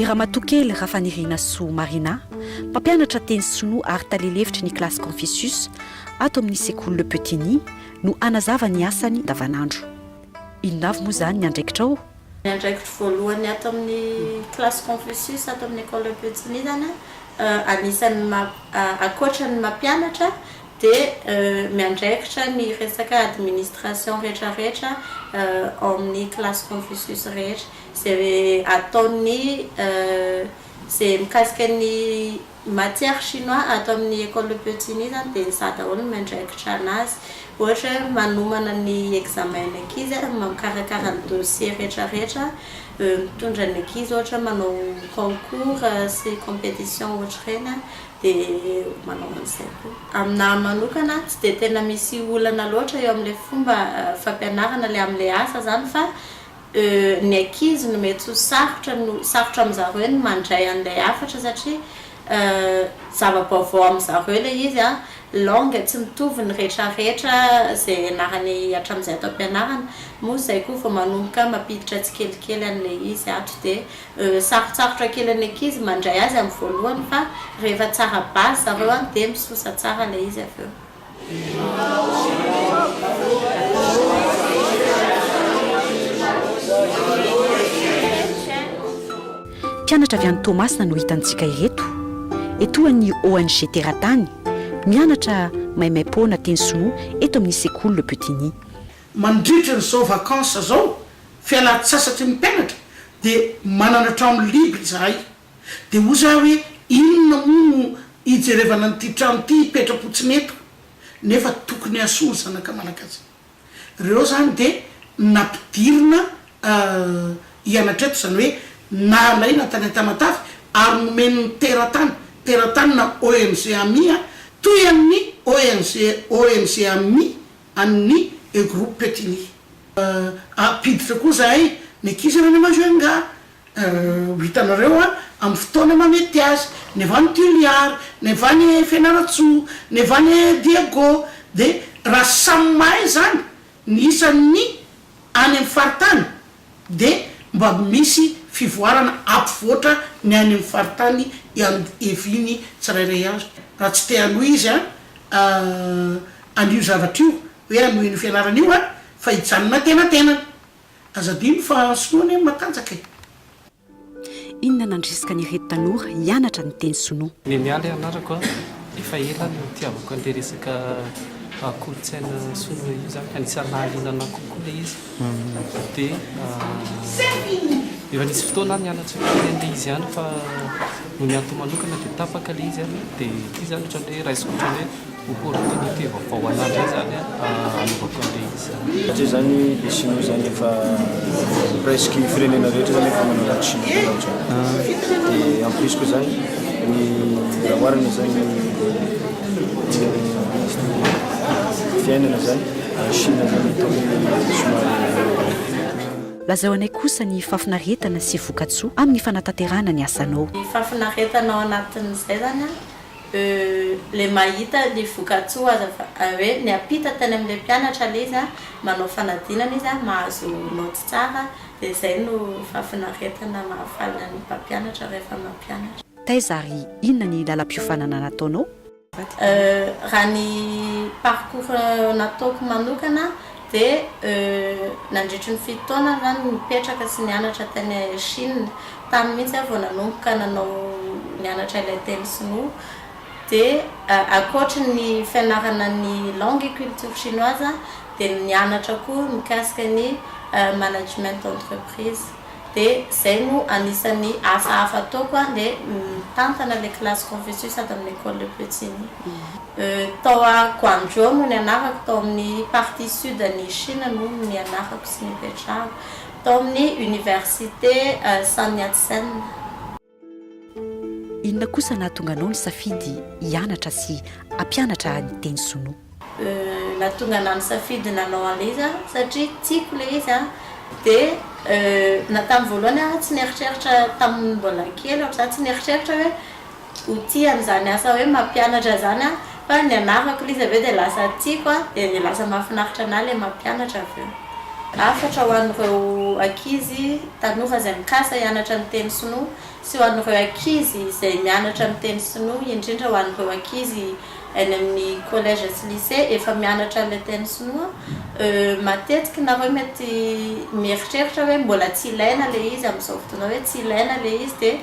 I Ramatoa Kely Rafanirinasoa Marina, mpampianatra teny sinoa ary tale lefitry ny kilasy Confucius ato amin'ny sekoly Le Petit Nid no hanazava ny asany andavanandro. Inona avy moa izany ny andraikitrao? Ny andraikitro voalohany ato amin'ny Classe Confucius ato amin'ny Ecole Petsimi zany a, anisan'ny maha, ankoatra ny mampianatra dia miandraikitra ny resaka administration rehetra rehetra ao amin'ny Classe Confucius rehetra, izay ataon'ny, izay mikasika ny. Matière chinois ato amin'ny Ecole Piochini zany dia ny za daholo no miandraikitra anazy. Ohatra hoe manomana ny examen ny ankizy, mikarakara ny dossier rehetra rehetra, mitondra ny ankizy ohatra hoe manao concours sy competition ohatr'ireny an, dia manao an'izay koa. Aminà manokana tsy dia tena misy olana loatra eo amin'ilay fomba fampianarana ilay amin'ilay asa zany fa. Euh ny ankizy no mety ho sarotra no sarotra amin'zareo ny mandray an'ilay hafatra satria euh zava-baovao amin'zareo ilay izy a, langue tsy mitovy ny retraretra izay ianarany hatramin'izay ato am-pianarana, moa izay koa vao manomboka mampiditra tsikelikely an'ilay izy ato dia euh sarotsarotra kely an'ny ankizy mandray azy amin'ny voalohany fa rehefa tsara base zareo a dia misosa tsara ilay izy avy eo. Mpianatra avy any Toamasina no hitantsika ireto. Etoan'ny ONG Teratany, mianatra maimaim-poana teny sinoa eto amin'ny sekoly Le Petit Nid. Mandritra an'izao vacances izao, fialan-tsasatry ny mpianatra, dia manana trano libre izahay. Dia hoy za hoe inona moa no hijerevana an'ity trano ity hipetra-potsiny eto nefa tokony hasoa ny zanaka malagasy. Reo zany dia nampidirina hianatra eto, zany hoe nalaina tany an-tamatave ary nomen'ny teratany, teratany na ONG Ami a, toy an'ny ONG ONG Ami an'ny E Groupe Petit Nia. Ampiditra koa zahay ny ankizy any Majunga. Ho hitanareo amin'ny fotoana mahamety azy, never any Toliara, never any Fianarantsoa, never any Diego, dia raha samy mahay izany ny isan'ny any amin'ny faritany dia mba misy fivoarana hampivoatra ny any amin'ny faritany iandoheviany tsirairay avy. Raha tsy te hanohy izy an'io zavatra io, hoe hanoheno fianarana io, fa hijanona an-tenatenany. Aza adino fa sinoa anie ny matanjaka e! Inona nandrisika an'ireto tanora hianatra ny teny sinoa? Neniah ilay anarako a! Efa ela no nitiavako an'ilay resaka kolontsaina sinoa io izany, anisan'ny nahaliana anah kokoa ilay izy dia efa nisy fotoana aho nianatra ilay teny ilay izy ihany fa noho ny antony manokana dia tapaka ilay izy dia ity izany ohatran'ny hoe raisiko ohatran'ny hoe Opportunité vaovao ho anah ndray zany anaovako an'ireny izany. Satria zany le Sinoa zany efa presque firenena rehetra zany efa manao la Chine zany ohatrany. Dia en plus koa zany ny raha oharina zany ny fiainana zany any Chine zany atao hoe somary. Lazao anay kosa ny fahafinaretana sy vokatsoa amin'ny fanatanterahana ny asanao. Ny fahafinaretana ao anatin'izay zany an. Euh le mahita le vokatsoa aza fa hoe miampita tany amle mpianatra le izy manao fanadinana izy mahazo note tsara de zay no fahafinaretana mahafaly ny mpampianatra rehefa mampianatra. Taiza ary inona ny lalam-piofanana nataonao? Euh raha ny parcours nataoko manokana Dia nandritry ny fito taona aho izany nipetraka sy nianatra tany Chine. Tany mihitsy aho vao nanomboka nanao nianatra ilay teny sinoa. Dia ankoatry ny fianarana ny langue et culture chinoise dia nianatra koa mikasika ny management d'entreprise. Dia zay no anisan'ny asa hafa ataoko an, dia mitantana le classe Confucius ato amin'ny Ecole Le Petit ny. Tao a Guangzhou no nianarako, tao amin'ny partie sud an'i Chine no nianarako sy nipetrahako, tao amin'ny Université Sun Yat-sen. Inona kosa nahatonga anao nisafidy hianatra sy hampianatra ahy ny teny sinoa? Nahatonga anah nisafidy nanao an'ilay izy aho satria tiako ilay izy an, dia na tamin'ny voalohany aho tsy nieritreritra tamin'ny mbola kely aho, za tsy nieritreritra hoe ho tia an'izany asa hoe mampianatra izany aho. Fa ny anarako liza avy eo dia lasa tiako an, dia dia lasa mahafinaritra anah ilay mampianatra avy eo. Hafatra ho an'ireo ankizy tanora izay mikasa hianatra ny teny sinoa sy ho an'ireo ankizy izay mianatra ny teny sinoa, indrindra ho an'ireo ankizy any amin'ny collège sy lycée efa mianatra an'ilay teny sinoa, euh, matetika nareo mety mieritreritra hoe mbola tsy ilaina ilay izy amin'izao fotoana hoe tsy ilaina ilay izy dia.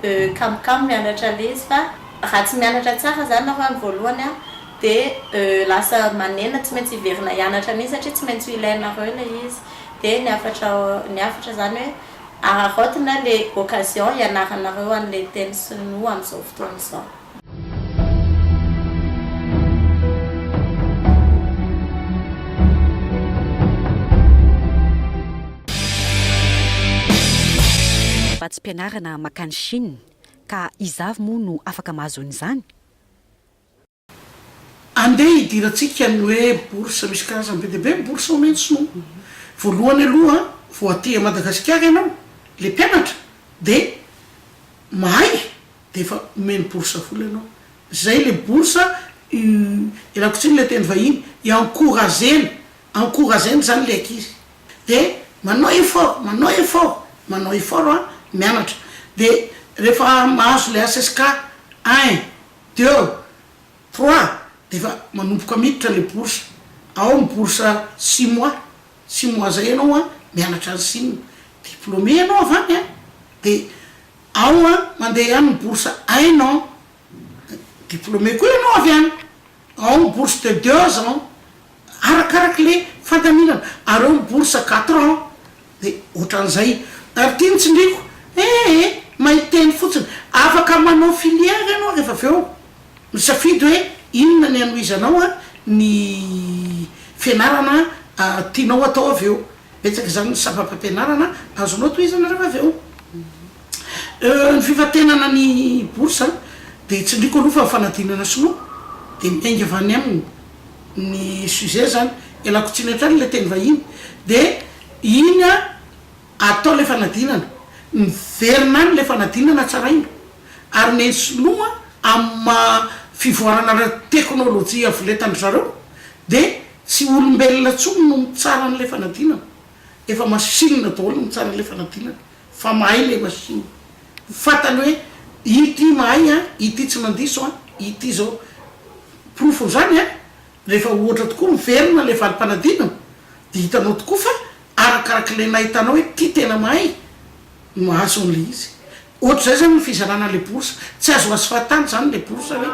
Euh kamokamo mianatra letsy fa raha tsy mianatra tsara zany nareo any voalohany an de euh lasa manenina tsy maintsy hiverina hianatra mihitsy satria tsy maintsy ho ilainareo ilay izy de ny hafatra ny hafatra zany hoe araraotina le occasion hianaranareo an'ilay teny sinoa amin'izao fotoana izao. Fa tsy mpianarana makany Chine, ka iza avy moa no afaka mahazo an'izany? Andeha hidirantsika ny hoe bourse, misy karazany be dia be ny bourse omeny ny sinoa. Voalohany aloha vao aty Madagasikara ianao, ilay mpianatra dia mahay Dia efa omeny bourse foana ianao. Zay le bourse yy ialako tsiny le teny vahiny, i-encourager-na, encourager-na zany le ankizy de manao effort, manao effort, manao effort an, mianatra de refa mahazo le HSK un, deux, trois de efa manomboka miditra le bourse, ao ny bourse six mois, six mois zay ianao an mianatra any Chine, diplômé ianao avy any an, de. Ao an, mandeha ihany ny bourse ein an, diplômé koa ianao avy any, ao ny bourse de deux ans, arakaraka le fandaminana, ary ao ny bourse quatre ans, de otran'izay. Ary ty ny tsindriko, eh eh, mahay teny fotsiny, afaka manao filière ianao rehefa avy eo misafidy hoe inona ny hanohizanao an, ny fianarana tianao atao avy eo. Betsaka izany ny sampam-pampianarana azonao tohizana raha avy eo. Euh, ny fifantenana ny bourse dia tsindriko aloha fa ny fanadinana sinoa dia miainga avy any aminy ny sujet zany, ialako tsiny hatrany ilay teny vahiny dia iny an atao ilay fanadinana, miverina any ilay fanadinana tsaraina ary omeny sinoa amin'ny maha fivoarana ara-teknolojia avoletan-dry zareo dia Tsy olombelona tsony no mitsara anle fanadinana, efa machine daholo no mitsara anle fanadinana, fa mahay le machine, ny fatany hoe ity mahay an, ity tsy mandiso an, ity zao, porofon'zany an, rehefa ohatra tokoa miverina le valim-panadinana de hitanao tokoa fa arakarak'le nahitanao hoe ty tena mahay no mahazo anle izy, Ohatr'izay izany ny fizarana ilay bourse. Tsy azo azo fahatany izany ilay bourse hoe.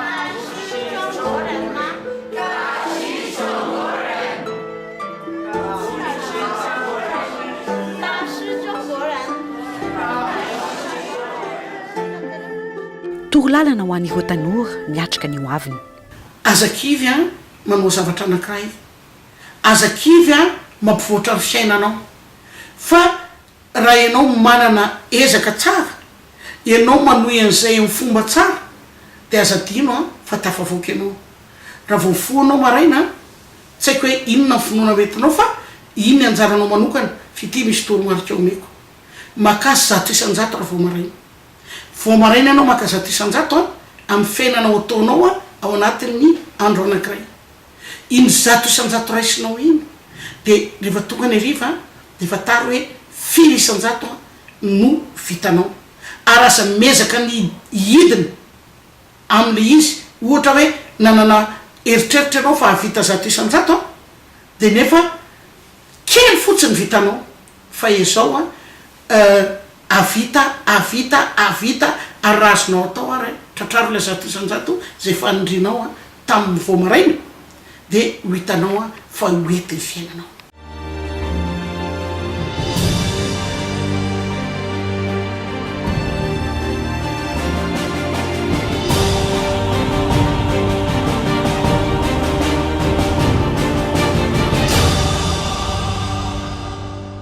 Toro lalana ho an'ireo tanora miatrika ny hoaviny. Aza kivy an, manao zavatra anankiray. Aza kivy an, mampivoatra ny fiainanao. Fa Raha ianao manana ezaka tsara, ianao manohy an'izay amin'ny fomba tsara, dia aza adino fa tafavoaka ianao. Raha vao mifoha ianao maraina, tsy haiko hoe inona ny finoana ho entinao fa iny ny anjaranao manokana, fa ity misy toromarika omeko. Makà zato isan-jato raha vao maraina. Vao maraina ianao maka zato isan-jato amin'ny fiainanao ataonao ao anatin'ny andro anankiray. Iny zato isan-jato raisinao iny dia rehefa tonga any hariva dia fantaro hoe firy isan-jato no vitanao. Ary aza miezaka ny hihidina amin'ilay izy. Ohatra hoe nanana eritreritra ianao fa hahavita zato isan-jato dia nefa kely fotsiny vitanao fa ezao Euh ahavita ahavita ahavita ary raha azonao atao ary an, tratraro ilay zato isan-jato izay fanindrinao an tamin'ny vao maraina dia ho hitanao an fa ho hety ny fiainanao.